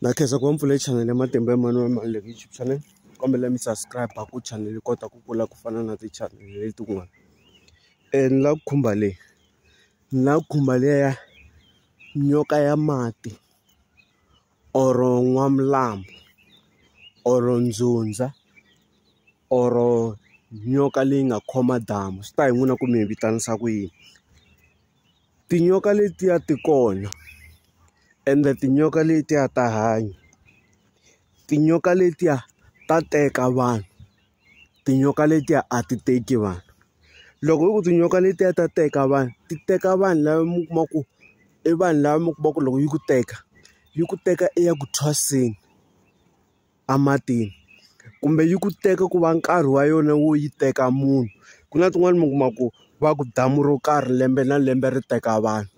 Na khensa ku va mi pfule chanele ya Matimba Emmanuel Maluleke channel kombela mi subscribe ku chanele yi kota ku kula ku fana na ti-channel letin'wana ni la ku khumba leyi ni la ku khumba liya ya nyoka ya mati or n'wamlambo or ndzundza or nyoka leyi nga khoma damu swi ta hi n'wina ku mi yi vitanisa ku yini. Tinyoka letiya ti kona ende tinyoka letiya ta hanya tinyoka letiya ta teka vanhu tinyoka letiya a ti teki vanhu loko hi ku tinyoka letiya ta teka vanhu ti teka vanhu lava mi kuma ku i vanhu lava mi kuma ku loko yi ku teka yi ku teka i ya ku thwaseni. ematini kumbe yi ku teka ku va nkarhi wa yona wo yi teka munhu ku na tin'wani mi kuma ku va ku damu ro karhi lembe na lembe ri teka vanhu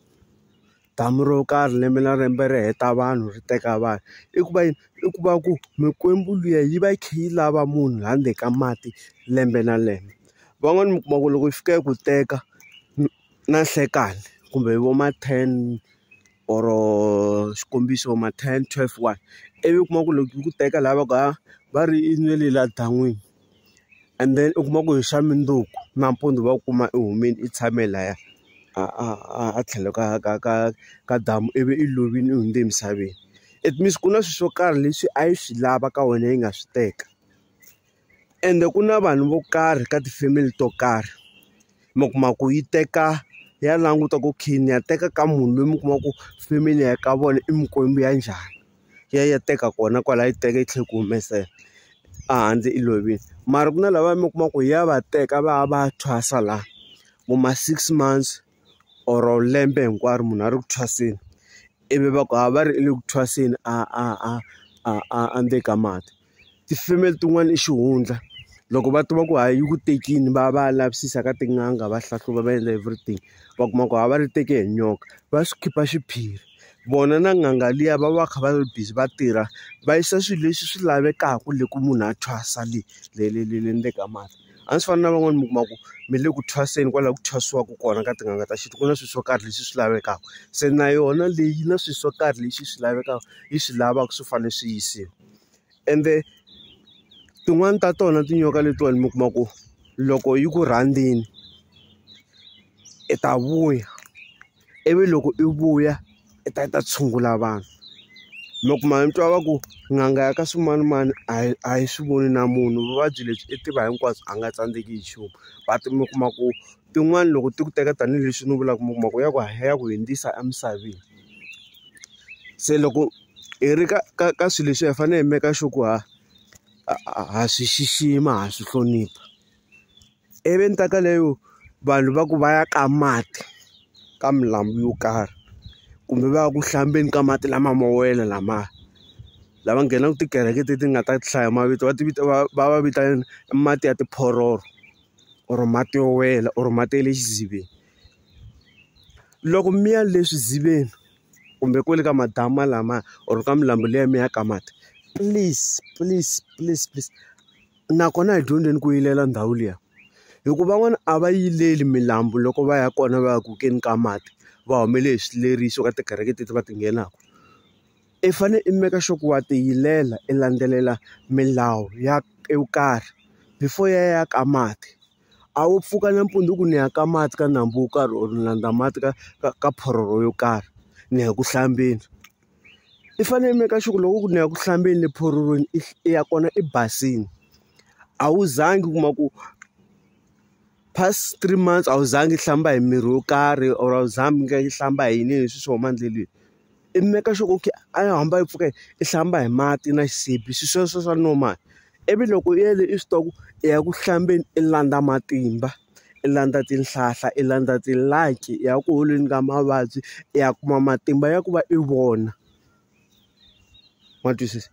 damu ro karhi lembe na lembe ri heta vanhu ri teka vanhu i ku va yini i ku va ku mikwembu liya yi va yi kha yi lava munhu la ndzeni ka mati lembe na lembe van'wani mi kuma ku loko yi fika yi ku teka na nhlekani kumbe vo ma ten. or xikombiso ma ten twelve one ivi u kuma ku loko yi ku teka lava ka va ri i nge le la dan'wini and then u kuma ku hi xa mundzuku nampundzu va kuma i humile i tshame laya a a a a tlhelo ka ka ka ka damu ivi i lovile u hundze emisaveni it means ku na swilo swo karhi leswi a yi swi lava ka wena yi nga swi teka. Ende ku na vanhu vo karhi ka ti-family to karhi, mi kuma ku yi teka ya languta ku khe ni ya teka ka munhu loyi mi kuma ku family ya ka vona i mikwembu ya njhani. Yi ya yi ya teka kona kwalaya yi teka yi tlhela yi ku humesela ehandle i lovile. Mara ku na lava mi kuma ku ya va teka va ya va ya thwasa laha, vo ma six months or lembe hinkwaro munhu a ri ku thwaseni. Ivi va ku a va ri le ku thwaseni a a a a a a ndzeni ka mati. ti-female tin'wana i xihundla loko va tiva ku ha yi ku tekini va ya va ya lavisisa ka tin'anga va hlahluva va endla everything va kuma ku ha va ri teke hi nyoka va swi khipha xiphiri vona na n'anga liya va va kha va ri busy va tirha va yisa swilo leswi swi lavekaka le ku munhu a thwasa le le le le le ndzeni ka mati a swi fani na van'wani mi kuma ku mi le ku thwaseni kwala ku thwasiwaka kona ka tin'anga ta xintu ku na swilo swo karhi leswi swi lavekaka se na yona leyi na swilo swo karhi leswi swi lavekaka yi swi lavaka swi fanele swi yisiwa. ende tin'wani ta tona tinyoka letiwani mi kuma ku loko yi ku rhandzini i ta vuya ivi loko i vuya i ta i ta tshungula vanhu mi kuma mi twa va ku n'anga ya ka swimanimani a yi a yi swi voni na munhu vuvabyi lebyi i tiva hinkwabyo a nga tsandzeki hi nchumu but mi kuma ku tin'wani loko ti ku teka tanihileswi ni vulaka mi kuma ku ya ku ya ku hundzisa emisaveni se loko. hi ri ka ka ka swilo leswiya hi fanele hi make sure ku ha ha swi xixima ha swi hlonipha ivi ni ta ka leyo vanhu va ku va ya ka mati ka milambu yo karhi kumbe va ya ku hlambeni ka mati lama mo wela lama lava nghenaka tikereke leti nga ta hlaya mavito va ti vita va va va vita mati ya tiphororo or mati yo wela or mati ya le xidziveni loko mi ya le swidziveni. kumbe kwale ka madamu lama or ka milambu leyi mi ya ka mati please please please please nakona hi dyondzeni ku yivela ndhawu liya hi ku van'wana a va yiveli milambu loko va ya kona va ya ku keni ka mati va humelele hi swileriso ka tikereke teti va ti nghenaka i fane i make sure ku wa ti yivela i landzelela milawu ya yo karhi before ya ya ka mati. A wo pfuka nampundzu ku ni ya ka mati ka nambu wo karhi or ni landza mati ka ka ka phororo yo karhi ni ya ku hlambeni i fanele i make sure ku loko ku ni ya ku hlambeni le phororweni i i ya kona i basile a wu zangi u kuma ku past three months a wu zangi hlamba hi mirhi yo karhi or a wu zangi i hlamba hi yini hi leswi swi huma endleleni. i make sure ku a yi hamba yi pfuka i hlamba hi mati na xisibi swilo sweswo swa normal ivi loko u yele exitoko i ya ku hlambeni i landza matimba i landza tihlahla i landza ti like i ya ku holeni ka mavabyi i ya kuma matimba ya ku va i vona ma twisisa.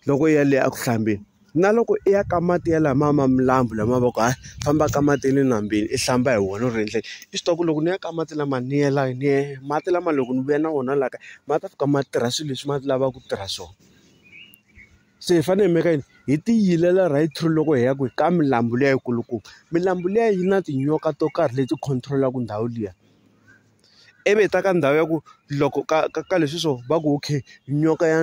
loko i ya le eku hlambeni na loko i ya ka mati ya lama ma milambu lama va ku hayi famba ka mati ya le nambyeni i hlamba hi wona u ri endleke i swi tiva ku loko ni ya ka mati lama ni yela ni ye mati lama loko ni vuya na wona laha kaya ma ta fika ma tirha swilo leswi ma lavaka ku tirha swona se hi fanele hi maka yini hi ti yilela right through loko hi ya kwihi ka milambu liya yi kulukumba milambu liya yi na tinyoka to karhi leti control-aka ndhawu liya. ivi hi ta ka ndhawu ya ku loko ka ka ka leswi swo va ku okay nyoka ya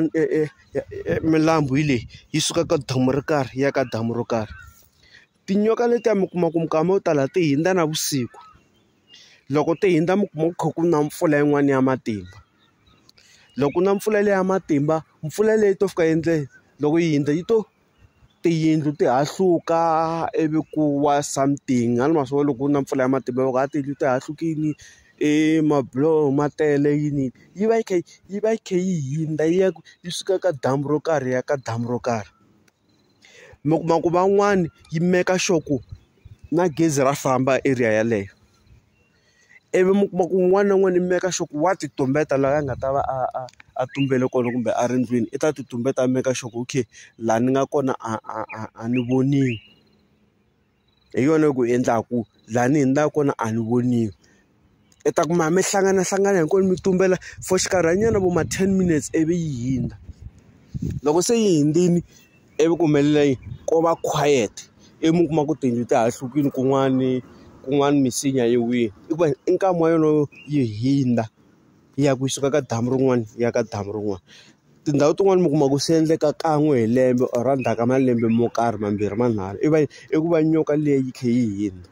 milambu hi leyi yi suka ka damu ro karhi yi ya ka damu ro karhi tinyoka letiya mi kuma ku minkama yo tala ti hundza navusiku loko ti hundza mi kuma ku kha ku na mpfula yin'wana ya matimba loko ku na mpfula leyi ya matimba mpfula leyi to fika endleni loko yi hundza yi to. tiyindlu ti hahluka ivi ku wa something a ni ma swi vona loko ku na mpfula ya matimba loko a tiyindlu ti hahlukile i mabuloho ma tele yini yi va yi kha yi va yi kha yi hundza yi ya ku yi suka ka damu ro karhi ya ka damu ro karhi mi kuma ku van'wani yi meka sure ku na gezi ra famba area yeleyo. ivi mi kuma ku un'wana na un'wana i make sure ku wa ti tumbeta laha a nga ta va a a a tumbele kona kumbe a ri ndlwini i ta ti tumbeta a make sure ku okay laha ni nga kona a a a a ni voniwi hi yona yi ku endlaku laha ni hundzaka kona a ni voniwi i ta kuma mi hlanganahlangana hinkwenu mi tumbela for xinkarhana nyana vo ma ten minutes ivi yi hundza loko se yi hundzile. ivi ku humelela yini ko va quiet ivi mi kuma ku tiyindlu ti hahlukile kun'wani kun'wani misinya yi wile i ku va i nkama wa yona yi hundza yi ya ku yi suka ka damu rin'wana yi ya ka damu rin'wana tindhawu tin'wani mi kuma ku swi endleka kan'we hi lembe or endzhaku ka malembe mo karhi mambirhi manharhu i va i ku va nyoka liya yi kha yi hundza.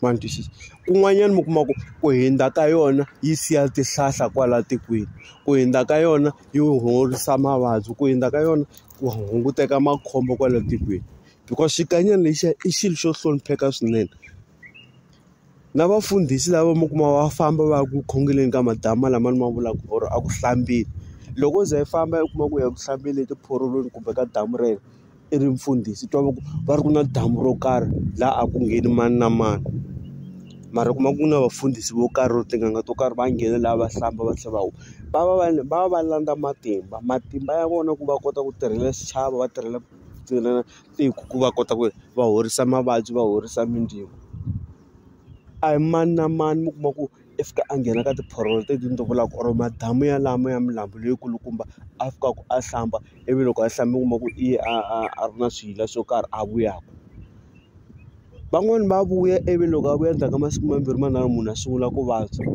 ma ni twisisa kun'wanyana mi kuma ku ku hundza ka yona yi siya tihlahla kwala tikweni ku hundza ka yona yi horisa mavabyi ku hundza ka yona ku hunguteka makhombo kwala tikweni because xikanyana lexiya i xilo xo hlonipheka swinene na vafundhisi lava mi kuma va famba va ya ku khongeleni ka madamu lama ni ma vulaka or a ku hlambeni loko u ze i famba u kuma ku ya ku hlambeni etiphorolweni kumbe ka damu rero. i ri mfundhisi i twa va ku va ri ku na damu ro karhi laha a ku ngheni mani na mani mara u kuma ku na vafundhisi vo karhi or tin'anga to karhi va nghena laha va hlamba va tlhela va huwa va va va va va landza matimba matimba ya vona ku va kota ku tirhela xichavo va tirhela tiko ku va kota ku ri va horisa mavabyi va horisa mindzilo a hi mani na mani mi kuma ku. i fika a nghena ka tiphorolo leti ni ti vulaka or madamu ya lama ya milambu leyi kulukumba a fikaka a hlamba ivi loko a hlamba u kuma ku i ye a a a ri na swiyila swo karhi a vuyaka van'wani va vuya ivi loko a vuya endzhaku ka masiku mambirhi manharhu munhu a sungula ku vabya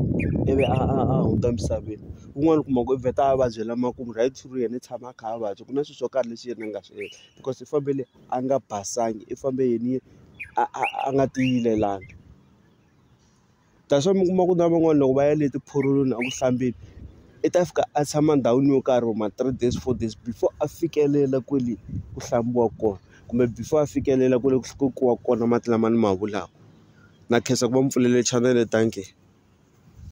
ivi a a a hundza emisaveni un'wana u kuma ku i vheta a vabyela makumu right through yena i tshama a kha a vabya ku na swilo swo karhi leswi yena a nga swi endla because i fambele a nga basanga i fambe yena a a a nga tiyilelangi. that's why mi kuma ku na van'wani loko va ya le tiphurulwini a ku hlambeni i ta fika a tshama ndhawini yo karhi or ma three days four days before a fikelela kwale ku hlambiwa kona kumbe before a fikelela kwale ku ku kiwa kona mati lama ni ma vulaku na khensa ku va mi pfulele chanele thankie.